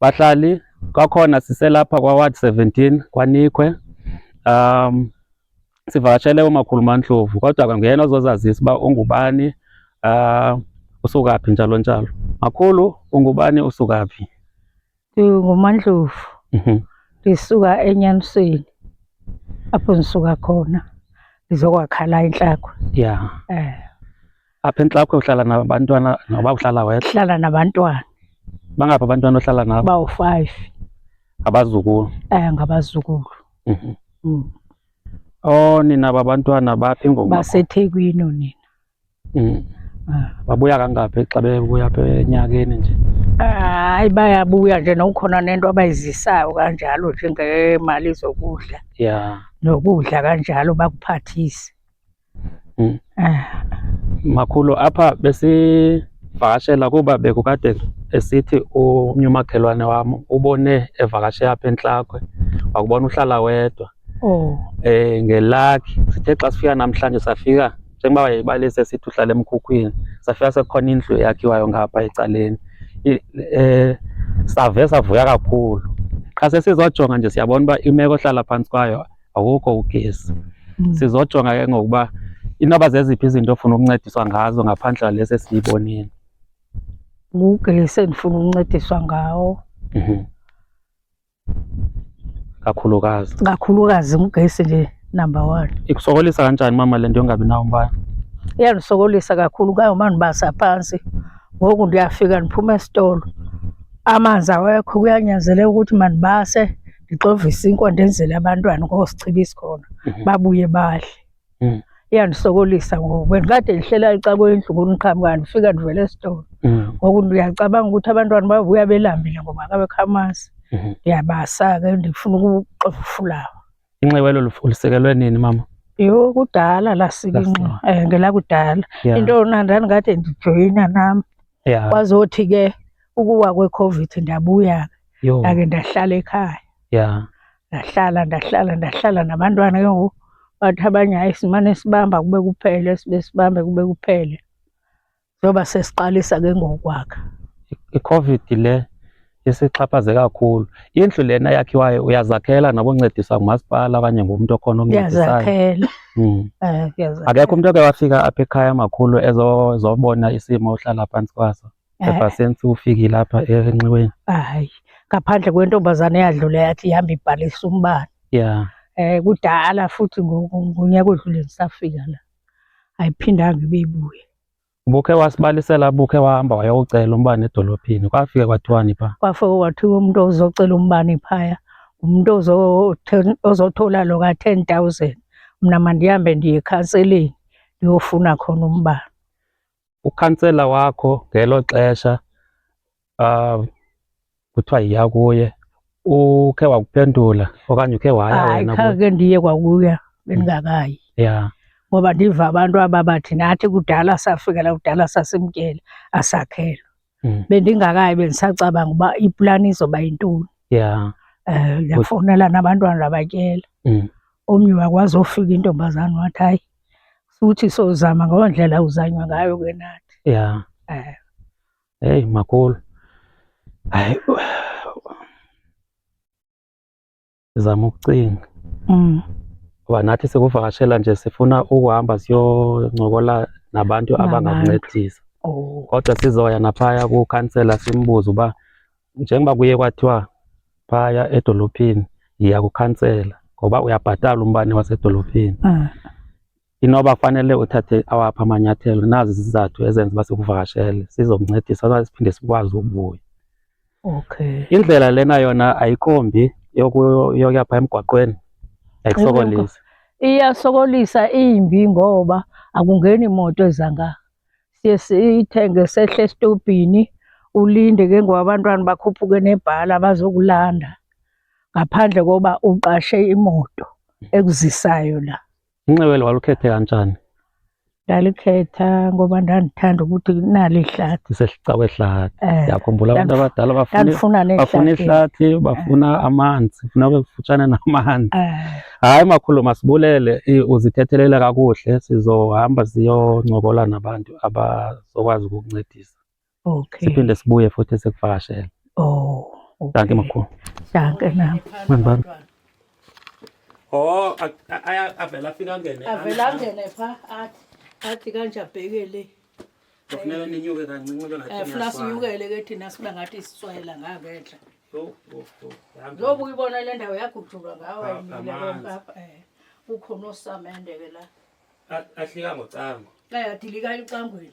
Bahlali, kwakhona siselapha kwa-ward 17 kwaNikhwe. Um, sivakashele umakhulu Mantlovu kodwa nguyena ozozazisa uba ungubani um usuka phi njalo njalo. Makhulu, ungubani usuka phi? NdinguMandlovu, Mhm. ndisuka eNyanisweni apho ndisuka khona ndizokwakha la intlakwe. Yeah. Eh. apha entlakho uhlala nabantwana noba uhlala wedwa hlala nabantwana bangaphi abantwana ohlala nabo bawu-five abazukulu um ngabazukulu mhm. mm. o oh, nina babantwana baphi ngobasethekwini onina mm. ah. babuya kangaphi xa bebuya pha enyakeni nje hayi bayabuya nje nokukhona nento abayizisayo kanjalo njengemali zokudla ya nokudla kanjalo bakuphathise Mm. Eh. Makhulu apha besivakashela kuba bekukade esithi omnye umakhelwane wam ubone evakashe apha entlakwe wakubona uhlala wedwa oh. eh ngelakhi sithe xa sifika namhlanje safika njengoba wayebalise sithi uhlala emkhukhwini safika sekukhona indlu eyakhiwayo ngapha ecaleni eh save savuya kakhulu qha sesizojonga nje siyabona uba imeko ohlala phantsi kwayo awukho ugesi mm. sizojonga ke ngokuba inoba zeziphi izinto ofuna ukuncediswa ngazo ngaphandle lesi esiyibonile ngugesi endifuna ukuncediswa ngawo mhm. kakhulukazi kakhulukazi ngugesi nje number one ikusokolisa kanjani mama le nto yongabi nawo umbane iyandisokolisa kakhulu kangoma ndibasa phantsi ngoku ndiyafika ndiphuma esitolo amanzi awekho kuyanyanzeleka ukuthi mandibase ndixovise inkomo ndenzele abantwana ngoosichiba isikhona mhm. babuye badle mhm. iyandisokolisa ngoku bendikade ndihlela ecakwendlu ngoniqhamka ndifika ndivele esitolo mhm. ngoku ndiyacabanga ukuthi abantwana bavuya belambile ngoba kabekho amanzi ndiyabasa ke ndifuna ukuxova ufulawa inxiwa elo lusekelwe nini mama yho kudala lasika inxiwa um eh, ngelakudala into yona ndandikade ndijoyina nam yeah. kwazothi ke ukuwa kwecovid ndabuya ndake ndahlala ekhaya yeah. ndahlala ndahlala ndahlala nabantwana ke ngoku bathi abanye hayi simane sibamba kube kuphele sibe sibambe kube kuphele njengoba sesiqalisa ke ngokwakha icovid le isixhaphaze kakhulu indlu lena yakhiwayo uyazakhela nokuncedisa ngumasipala okanye ngumntu okhona oncedisayo hmm. eh, akekho umntu oke wafika apha ekhaya makhulu ezobona isimo uhlala phantsi kwaso eh. ebhasini siwufikile apha enxiweni hayi ngaphandle kwentombazane eyadlule yathi ihamba ibhalisa umbane ya um kudala futhi ngonyaka odlule ndisafika la ayiphindanga ibe ibuye Ubukhe wasibalisela bukhe wahamba wayowucela umbane edolophini kwafike kwathiwani pha? Kwafike kwathiwa umntu ozocela umbane phaya ngumntu ozothola lo ka-ten thousand mna mandihambe ndiye ekhanseleni ndiyofuna khona umbane. Ukhansela wakho ngelo xesha uh, kuthiwa yiya kuye ukhe wakuphendula okanye ukhe waya wena khake ndiye kwakuya bendingakayi mm. ya ngoba ndiva abantu aba bathi nathi kudala safikela kudala sasimtyela asakhelo mm. bendingakayi bendisacabanga uba iplani izoba yintoni ya eh, um ndafowunela nabantwana labatyela mm. omnye wakwazi ofika intombazana wathi hayi futhi sozama ngondlela uzanywa ngayo ke nathi ya um Hey, makulu hayi zama ukucinga mm. kuba nathi sikuvakashela nje sifuna ukuhamba siyoncokola nabantu abangakuncedisa oh. kodwa sizoya naphaya kukhansela simbuze uba njengoba kuye kwathiwa phaya edolophini yiya kukhansela ngoba uyabhatala umbane wasedolophini ah. Inoba fanele uthathe awaphi amanyathelo, nazi izizathu ezenza uba sikuvakashele sizomncedisa okanye siphinde sikwazi ukubuya. Okay. Indlela lena yona ayikho mbi yoku- yokuya phaa emgwaqweni, ayikusokolisi. Iyasokolisa imbi ngoba akungeni moto eza ngapha. Siye siyithenge sehle esitobhini ulinde ke ngoku abantwana bakhuphuke nebhala bazokulanda ngaphandle koba uqashe imoto ekuzisayo la. Unxibo eli walukhethe kanjani? Ndalikhetha ngoba ndandithanda ukuthi nalo ihlathi. Ndisesicawe ihlathi. Eh, Ndiyakhumbula abantu ndandif- abadala bafuna Ndandifuna bafuna nehlathi. ihlathi, bafuna amanzi, funa ube kufutshane namanzi. Eh, Hayi makhulu masibulele i- uzithethelele kakuhle sizohamba siyoncokola nabantu abazokwazi ukukuncedisa. Okay. Siphinde sibuye futhi sikuvakashele. Oh. Okay. Danke makhulu. Danke nami. Mambami. Oh, aya avela afika ngene. Avela ngene pha athi athi kanje abhekele. Kufuneka ninyuke kancinci ke ngathi. Efuna eh, sinyukele ke thina siba ngathi siswayela ngaketla. Yo, yo, yo. Ngoba uyibona le ndawo yagujulwa ngawe yini lapha. Eh. Ukhona osamende ke la. Ahlika ngocango. Eh, adilika icangweni.